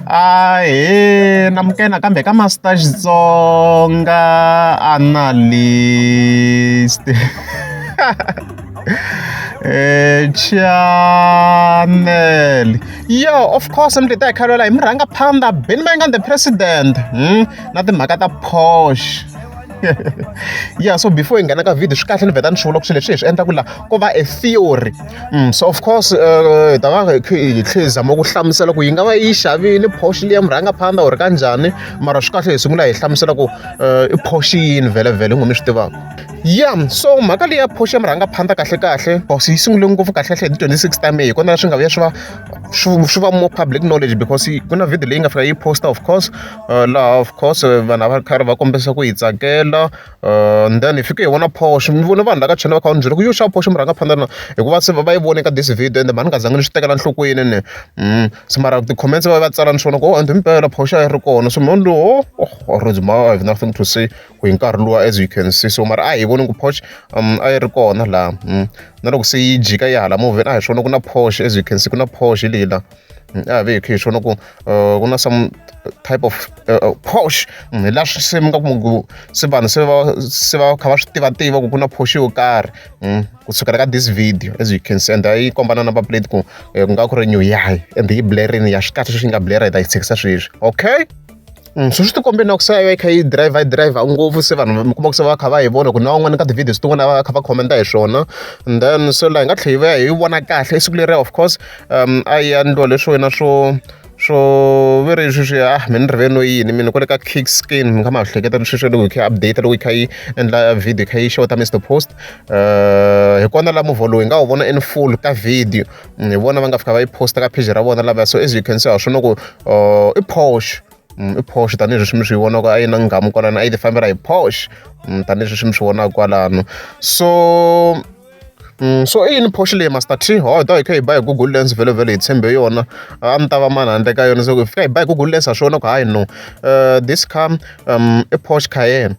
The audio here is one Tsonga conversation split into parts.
Ahee namukela nakambe ka Master Xitsonga Analyst eh channel yo of course mi ta hi khalwela hi mi rhanga phanda beni va nga the president hmm? na timhaka ta posh ya so before hi nghena ka video swi kahle ni vheta ni swi vula ku swilo leswi hi swi endlaku laha ko va a theory Mm, so of course hi eh, ta va hi tlhe hi zama ku hlamusela ku yi nga va yi xavini phoxi liya murhanga phanda or ka njhani mara swi kahle hi sungula hi hlamusela ku eh, i phoxi yini vhelevhele n'wi mi swi tivaka ya so mhaka leyi ya phoxi ya murhanga phanda kahlekahle cause yi sungule ngopfu kahlekahle hi ti-twenty six ta may hi kona swi nga vuya swi va swi va more public knowledge because ku na video leyi nga fika yi posta of course eh, laha of course vanhu a va ri karhi va kombisa ku yi tsakela and then hi fike hi vona phoxo mi vone vanhu la ka china va kha va ni byela ku yo xava phoxo mi rhanga phanda na hikuva se va yi vone ka this video ende mhani nga zangi ni swi tekela nhlokweni ni mm, se mara ti-comments va va tsala ni swona ku o oh, ende mpela phoxo a yi ri kona so mhani lowo oh, oh, oh rose ma i have nothing to say ku hi nkarhi luwa as you can see so mara a hi voni ku phoxo um a yi ri kona laha mm. na loko se yi jika yi hala movheni a hi swona ku na phoxo as you can see ku na phoxo leyi laha mm, a ve hi khe hi swona ku uh, ku na some type of uh, uh, posh mm, hi la swi se mi nga ku se vanhu se va se va kha va swi tiva tiva ku ku na posh yo karhi mm, ku sukela ka this video as you can see and yi komba na number plate ku eh, ku nga ku ri new yahi and yi blarini ya swi kahle sweswi yi nga bleri hi ta yi tshikisa sweswi okay Mm, sweswi ti kombe na ku se a yi kha yi driver yi driver ngopfu se vanhu mi kuma ku se va kha va yi vona ku na van'wana ka ti-videos tin'wana va kha va commenta hi swona and then so laha hi nga tlhela hi va hi vona kahle i siku leriya of course um a yi yandliwa leswo yena swo swo ve ri sweswi ah mi ni riveno yini mina kwale ka kick skin mi nga ma hleketa sweswi loko hi kha update loko hi kha yi endla video hi kha yi xeweta mr post um hi kona la movha lowu hi nga wu vona in full ka video hi vona va nga fika va yi posta ka page ra vona lavaya so as you can see ha swi loko uh, i posh mm, i posh tanihileswi mi swi vonaka a yi na nghamu kwalano a yi tifambela hi posh mm, tanihileswi mi swi vonaka kwalano so Mm, so i yini phoxi leyi master t hodo hi kha hi ba hi google lens vhelo vhelo hi tshembe yona a ni ta va mani handle ka yona so hi fika hi ba hi google lens ha swona ku hayi no uh, this car um, i phoxi cayenne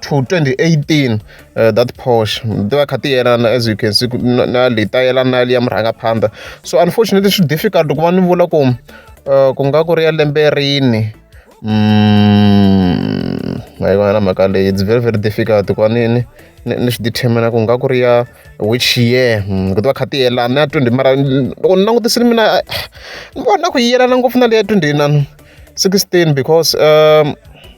to 2018 uh, that posh ti va kha ti yelana as you can see na leyi ta yelana na ya murhangaphandha so unfortunately swi difficult ku va ni vula ku uh, ku nga ku ri ya lembe rini mm, a na mhaka leyi it's very very difficult ku va ni ni ni swi determina ku nga ku ri ya which year mm, ku ti va kha ti yelana ya 20 mara loko ni langutisile mina ni vona ku yi yelana ngopfu na leyi ya 20 16 because um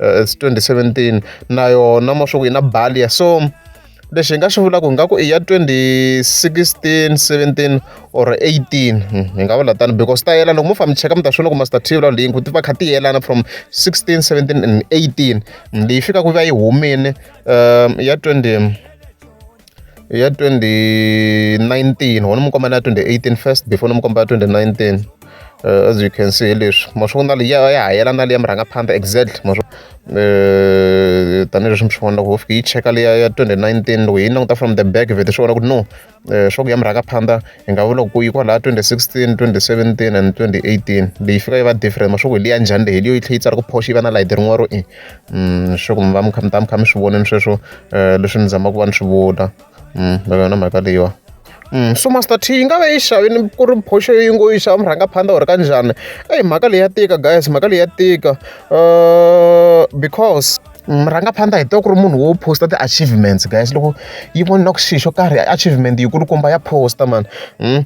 uh, 2017 na yona mo swi ku yi na balia so lexi hi nga xi vulaka hi nga ku i ya 2016 17 or 18 hmm, hi nga vula tani because ta yelana loko mo famba mi cheka mi ta swi loko master t vula link ti va kha ti yelana from 16 17 and 18 hmm, leyi fikaka yi va yi humile um ya 20 ya twenty nineteen wona mi komba na twenty eighteen first before ni mi komba twenty nineteen uh, as you can see leswi ma swi vona ya ya ha yelana leyi ya murhangaphandha exactly ma swi eh, tanihileswi mi swi vona loko ho fika yi cheka leya ya twenty nineteen loko hi languta from the back vhete swi vona ku no eh, swa ku ya murhangaphandha hi nga vula ku yi kwalaha 2016 2017 and 2018 leyi fika yi va different maswaku hi liya njhani leyi leyo yi tlhe yi tsala ku phoxi yi va na layiti rin'wana ro i mm, swaku mi va mi kha mi ta mi kha mi swi voneni sweswo um leswi ni zamaka ku va ni swi vula mm, va yona mhaka leyiwa Mm, so master t yi nga va yi xavini ku ri phoxo yi ngo yi xava murhangaphandla u ri ka njhani eyi mhaka leyi ya tika guys mhaka leyi ya tika um because Murhangaphandla hi tiva ku ri munhu wo post-a ti-achievements guys loko yi vona ku xilo xo karhi achievement yi kulukumba ya post-a mani hmm?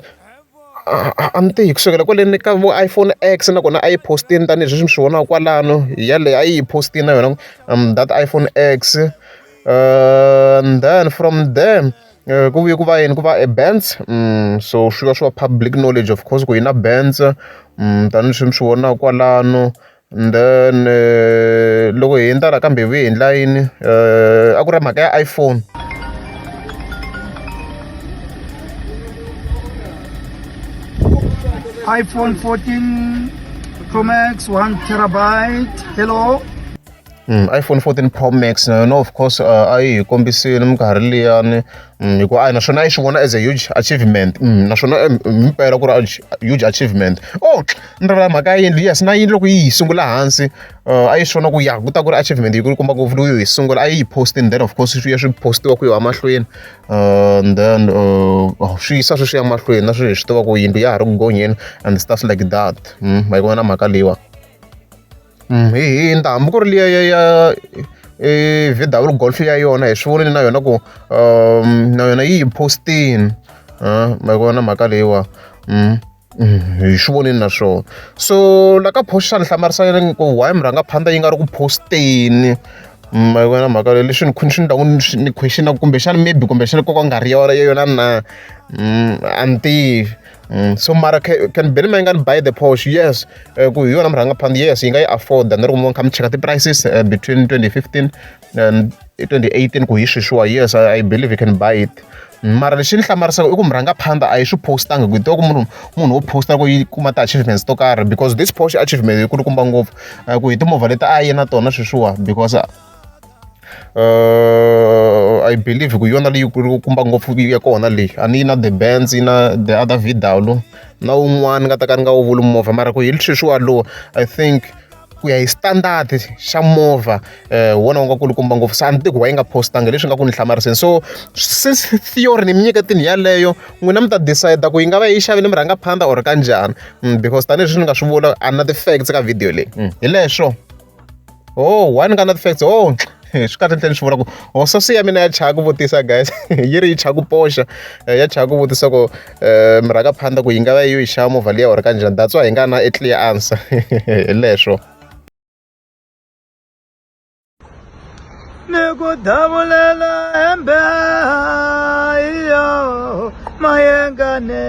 a ni tihi kusukela kwaleni ka vo iPhone X nakona a yi post-ini tanihileswi mi swi vonaka kwalano yaleyo a yi yi post-ini na yona um that iPhone X uh, and then from there Eh, ku vuye ku va yini ku va e-bands mm, so swi va swi va public knowledge of course ku yi na bands mm, tanihi swi mi swi vonaka kwalano And then loko hi hundza laha ka Mbewu hi endla yini a ku ri mhaka ya iPhone. iPhone 14 Pro Max one terabyte hello. Mm, iPhone 14 Pro Max na yona of course uh, a yi hi kombisile minkarhi liyani mm, hikuva a naswona a yi swi vona as a huge achievement mm, naswona himpela eh, ku ri huge achievement oh ni ri mhaka ya yindlu yes na yindlu loko yi yi sungula hansi uh, a yi swi vona ku ya ku ta ku ri achievement yi ku komba ngopfu loku yi sungula a yi yi postini then of course swi ya swi postiwa ku yo emahlweni uh, and then uh, oh, swi yisa sweswi ya mahlweni na sweswi hi swi tiva ku yindlu ya ha ri ku gonyeni and stuff like that mm, ma yi vona mhaka leyiwani Mm, hi hi nta hambi ku ri liya ya ya e vw golf ya yona hi swi vonile na yona ku um na yona yi yi postini um ma vona mhaka leyiwa um hi swi vonile na swona so la ka post xana hlamarisa yena ku why mi rhanga phanda yi nga ri ku posteni ma vona mhaka leyi leswi ni khuni swi ni taku ni questionaku kumbexana maybe kumbexana koka nga ri yona yona na a ni tivi Mm, so mara can beni ma yi nga ni buy the posh yes eh, ku hi yona murhangaphansi yes yi nga yi afforda ni ri kumbe kha mi cheka ti-prices eh, between 2015 and 2018 ku hi sweswiwa yes I, i believe you can buy it mara lexi ni hlamarisaka i ku murhangaphandha a yi swi postanga ku ku munhu munhu wo posta ku yi kuma ti-achievements to karhi because this posh achievement yi kulukumba ngopfu eh, ku hi timovha leti a yi na tona sweswiwa because I believe ku hi yona leyi ku kumba ngopfu ya kona leyi a ni yi na the bands yi na the other vidalo na wun'wana ni nga ta ka ni nga wu vuli movha mara ku hi sweswi walowo I think ku ya hi standard xa movha hi wona wu nga kulukumba ngopfu se a ni tivi ku why yi nga post-angi hi leswi nga ku ni hlamariseni so since theory ni mi nyiketile yaleyo n'wina mi ta decide ku yi nga va yi xavile mi rhanga phanda or ka njhani because tanihileswi ni nga swi vula a ni na ti-facts ka video leyi hi leswo. oh one ka na ti-facts oh swi kahle nhleni swi vona ku oh sasi ya mina ya chaya ku vutisa guys yi ri yi chaya ku poxa eh, ya chaya ku vutisa ku um eh, mirhaka phanda ku yi nga va yi yi xava movha liya or kanjhani that's why hi nga na e clear answer hi leswo ni ku davulela hembe iyo mayengane